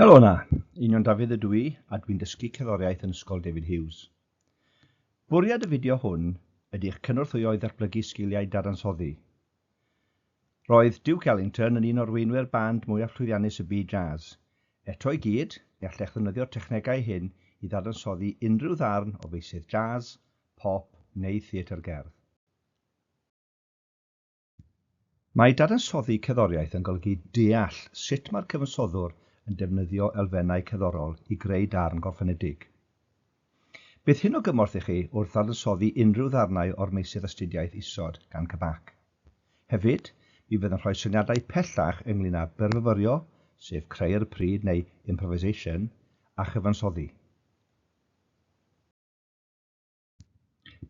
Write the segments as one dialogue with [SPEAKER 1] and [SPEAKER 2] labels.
[SPEAKER 1] Helo yna, Union Dafydd ydw i a dwi'n dysgu cerddoriaeth yn Ysgol David Hughes. Bwriad y fideo hwn ydy eich cynorthwyo i ddatblygu sgiliau dadansoddi. Roedd Duke Ellington yn un o'r weinwyr band mwyaf llwyddiannus y byd jazz. Eto i gyd, ni allech ddefnyddio'r technegau hyn i ddadansoddi unrhyw ddarn o feysydd jazz, pop neu theatr gerdd. Mae dadansoddi cerddoriaeth yn golygu deall sut mae'r cyfansoddwr yn defnyddio elfennau cerddorol i greu darn gorffenedig. Bydd hyn o gymorth i chi wrth ddadansoddi unrhyw ddarnau o'r meysydd astudiaeth isod gan CBAC. Hefyd, mi fydd yn rhoi syniadau pellach ynglŷn â byrfyfyrio, sef creu ar y pryd neu improvisation, a chyfansoddi.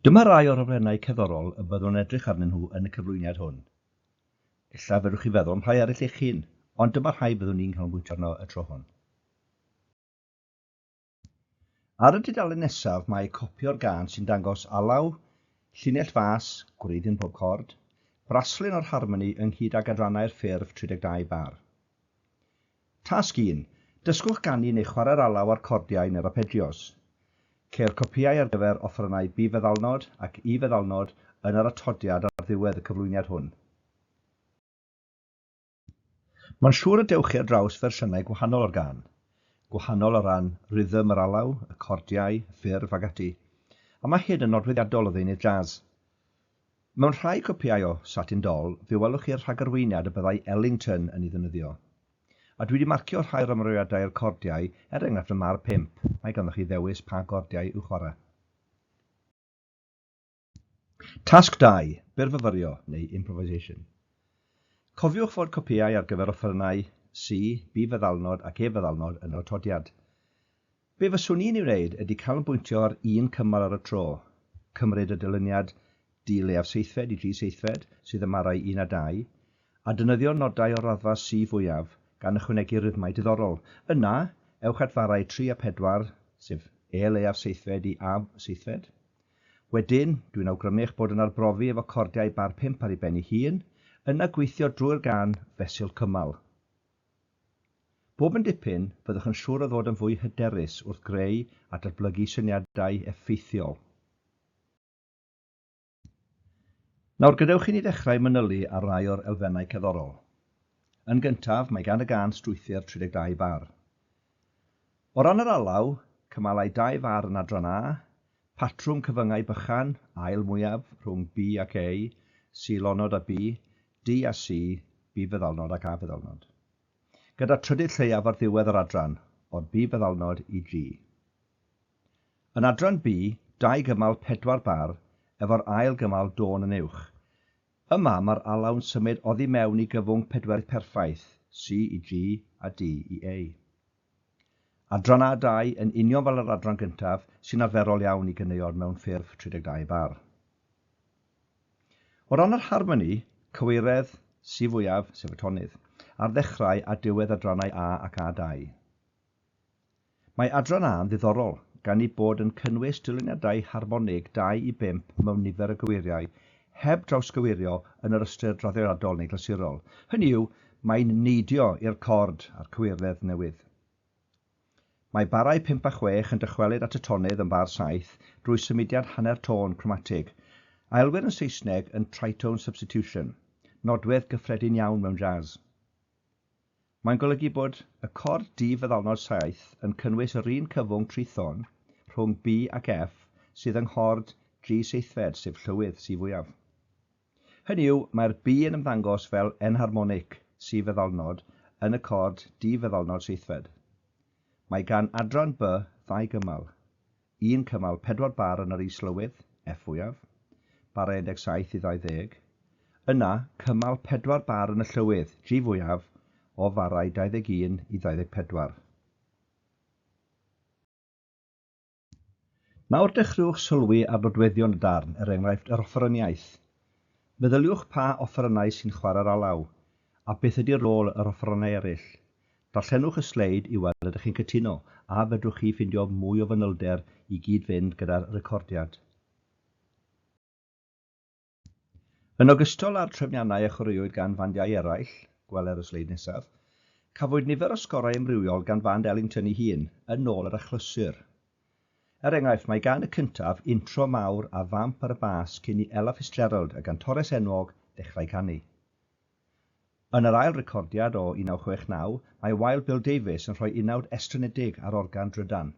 [SPEAKER 1] Dyma rai o'r rhofrennau cerddorol y byddwn yn edrych arnyn nhw yn y cyflwyniad hwn. Ella fedrwch chi feddwl am rhai eraill eich hun, ond dyma rhai byddwn ni'n canolbwyntio arno y tro hwn. Ar y dudalen nesaf mae copi o'r gân sy'n dangos alaw, llinell fas, gwreiddyn pob cord, braslun o'r harmoni ynghyd ag adrannau'r ffurf 32 bar. Tasg un, Dysgwch ganu neu chwarae'r alaw a'r cordiau neu'r arpeggios. Ceir copïau ar gyfer offerynnau B feddalnod ac E feddalnod yn yr atodiad ar ddiwedd y cyflwyniad hwn. Mae'n siŵr y dewch chi ar draws fersiynau gwahanol o'r gân, gwahanol o ran rhythm yr alaw, y cordiau, ffurf ac ati, a mae hyn yn nodweddiadol o ddeunydd jazz. Mewn rhai copïau o Satin Doll fe welwch chi'r rhagarweiniad y byddai Ellington yn ei ddefnyddio. A dwi 'di marcio rhai o'r ymroiadau i'r cordiau, er enghraifft ym Mâr Pump, mae ganddoch chi ddewis pa gordiau i'w chwarae. Tasg dau, Byrfyfyrio, neu Improvisation. Cofiwch fod copïau ar gyfer offerynnau C, B-feddalnod ac E-feddalnod yn yr atodiad. Be fyswn i'n ei wneud ydy canolbwyntio ar un cymal ar y tro, cymryd y dyluniad di-leiaf seithfed i dri seithfed sydd ym marau un a dau, a defnyddio nodau o'r raddfa sy fwyaf, gan ychwanegu rhythmau diddorol. Yna, ewch at farau tri a pedwar, sef E leiaf seithfed i A seithfed. Wedyn, dwi'n awgrymu eich bod yn arbrofi efo cordiau bar pump ar ei ben ei hun, yna gweithio drwy'r gân fesul cymal. Bob yn dipyn, byddwch yn siŵr o ddod yn fwy hyderus wrth greu a datblygu syniadau effeithiol. Nawr, gadewch i ni ddechrau manylu ar rai o'r elfennau cerddorol. Yn gyntaf, mae gan y gân strwythur 32 bar. O ran yr alaw, cymalai dau far yn adran A, Patrwm cyfyngau bychan, ail mwyaf, rhwng B ac A, C-lonod a B, D a C, B feddalnod ac A feddalnod. Gyda trydydd lleiaf ar ddiwedd yr adran, o'r B feddalnod i G. Yn adran B, dau gymal pedwar bar efo'r ail gymal dôn yn uwch. Yma mae'r alaw'n symud oddi mewn i gyfwng pedwerydd perffaith, C i G a D i A. Adran A 2, yn union fel yr adran gyntaf, sy'n arferol iawn i ganeuon mewn ffurf 32 bar. O ran yr harmoni, cyweiredd, si fwyaf, sef y tonydd, ar ddechrau a diwedd adrannau A ac A 2. Mae adran A yn ddiddorol, gan ei bod yn cynnwys dyluniadau harmonig 2 i 5 mewn nifer o gyweiriau heb drawsgywirio yn yr ystyr draddodiadol neu glasurol, hynny yw, mae'n neidio i'r cord a'r cywirdeb newydd. Mae barau pump a chwech yn dychwelyd at y tonydd yn bar saith drwy symudiad hanner tôn cromatig, a elwir yn Saesneg yn tritone substitution, nodwedd gyffredin iawn mewn jazz. Mae'n golygu bod y cord di-feddalnod saith yn cynnwys yr un cyfwng trithon rhwng B ac F sydd yng nghord G seithfed, sef llywydd C fwyaf. Hynny yw, mae'r B yn ymddangos fel enharmonic C feddalnod yn y cord di-feddalnod seithfed. Mae gan adran B ddau gymal. Yn cymal pedwar bar yn yr Is-lywydd, Ef fwyaf, barau 17 i 20. Yna, cymal pedwar bar yn y Llywydd, Gi fwyaf, o farau 21 i 24. Nawr dechreuwch sylwi ar nodweddion y darn, er enghraifft, yr offeryniaeth. Meddyliwch pa offerynnau sy'n chwarae'r alaw, a beth ydy rôl yr offerynnau eraill. Darllenwch y sleid i weld ydych chi'n cytuno, a fedrwch chi ffindio mwy o fanylder i gyd-fynd gyda'r recordiad. Yn ogystal â'r trefniannau a chwaraewyd gan fandiau eraill, gweler y sleid nesaf, cafwyd nifer o sgorau amrywiol gan fand Ellington ei hun, yn ôl yr achlysur. Er enghraifft, mae gan y cyntaf intro mawr a vamp ar y bas cyn i Ella Fitzgerald, y gantores enwog, ddechrau canu. Yn yr ail recordiad o 1969, mae Wild Bill Davies yn rhoi unawd estrynedig ar organ drydan.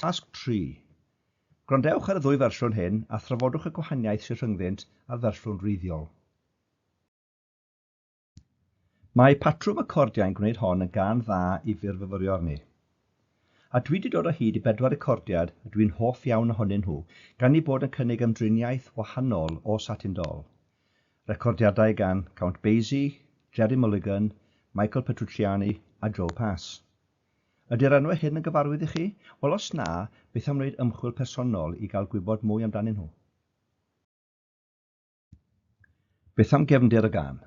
[SPEAKER 1] Tasg tri. Gwrandewch ar y ddwy fersiwn hyn a thrafodwch y gwahaniaeth sydd rhyngddynt a'r fersiwn wreiddiol. Mae patrwm y cordiau'n gwneud hon yn gân dda i fyrfyfyrio arni. A dwi 'di dod o hyd i bedwar recordiad a dwi'n hoff iawn ohonyn nhw, gan eu bod yn cynnig ymdriniaeth wahanol o Satin Doll. Recordiadau gan Count Basie, Gerry Mulligan, Michael Petrucciani a Joe Pass. Ydy'r enwau hyn yn gyfarwydd i chi? Wel os na, beth am wneud ymchwil personol i gael gwybod mwy amdanyn nhw? Beth am gefndir y gân?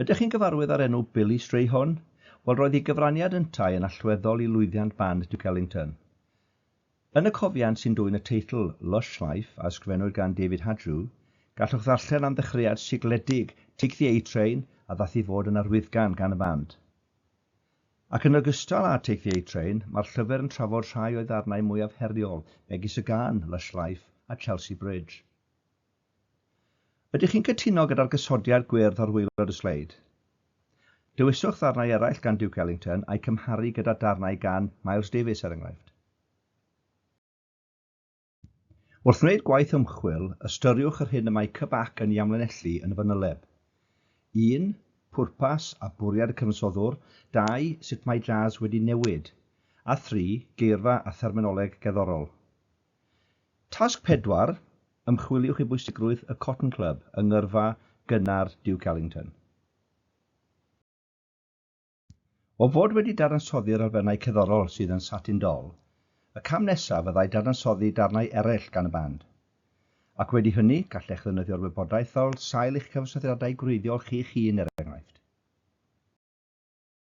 [SPEAKER 1] Ydych chi'n gyfarwydd â'r enw Billy Strayhorn? Wel, roedd ei gyfraniad yntau yn allweddol i lwyddiant band Duke Ellington. Yn y cofiant sy'n dwyn y teitl Lush Life a ysgrifennwyd gan David Hadrew, gallwch ddarllen am ddechreuad sigledig Take the A Train a ddaeth i fod yn arwyddgan gan y band. Ac yn ogystal â Take the A Train, mae'r llyfr yn trafod rhai o'i ddarnau mwyaf heriol, megis y gân Lush Life a Chelsea Bridge. Ydych chi'n cytuno gyda'r gosodiad gwyrdd ar waelod y sleid? Dewiswch ddarnau eraill gan Duke Ellington a'u cymharu gyda darnau gan Miles Davies er enghraifft. Wrth wneud gwaith ymchwil, ystyriwch yr hyn y mae CBAC yn ei amlinellu yn y fanyleb. 1. Pwrpas a bwriad y cyfansoddwr 2. Sut mae jazz wedi newid a 3. Geirfa a therminoleg gerddorol. Tasg pedwar, Ymchwiliwch i bwysigrwydd y Cotton Club yng ngyrfa gynnar Duke Ellington. O fod wedi dadansoddi'r elfennau cerddorol sydd yn Satin Doll, y cam nesaf fyddai dadansoddi darnau eraill gan y band. Ac wedi hynny, gallech ddefnyddio'r wybodaeth fel sail i'ch cyfansoddiadau gwreiddiol chi'ch hun, er enghraifft.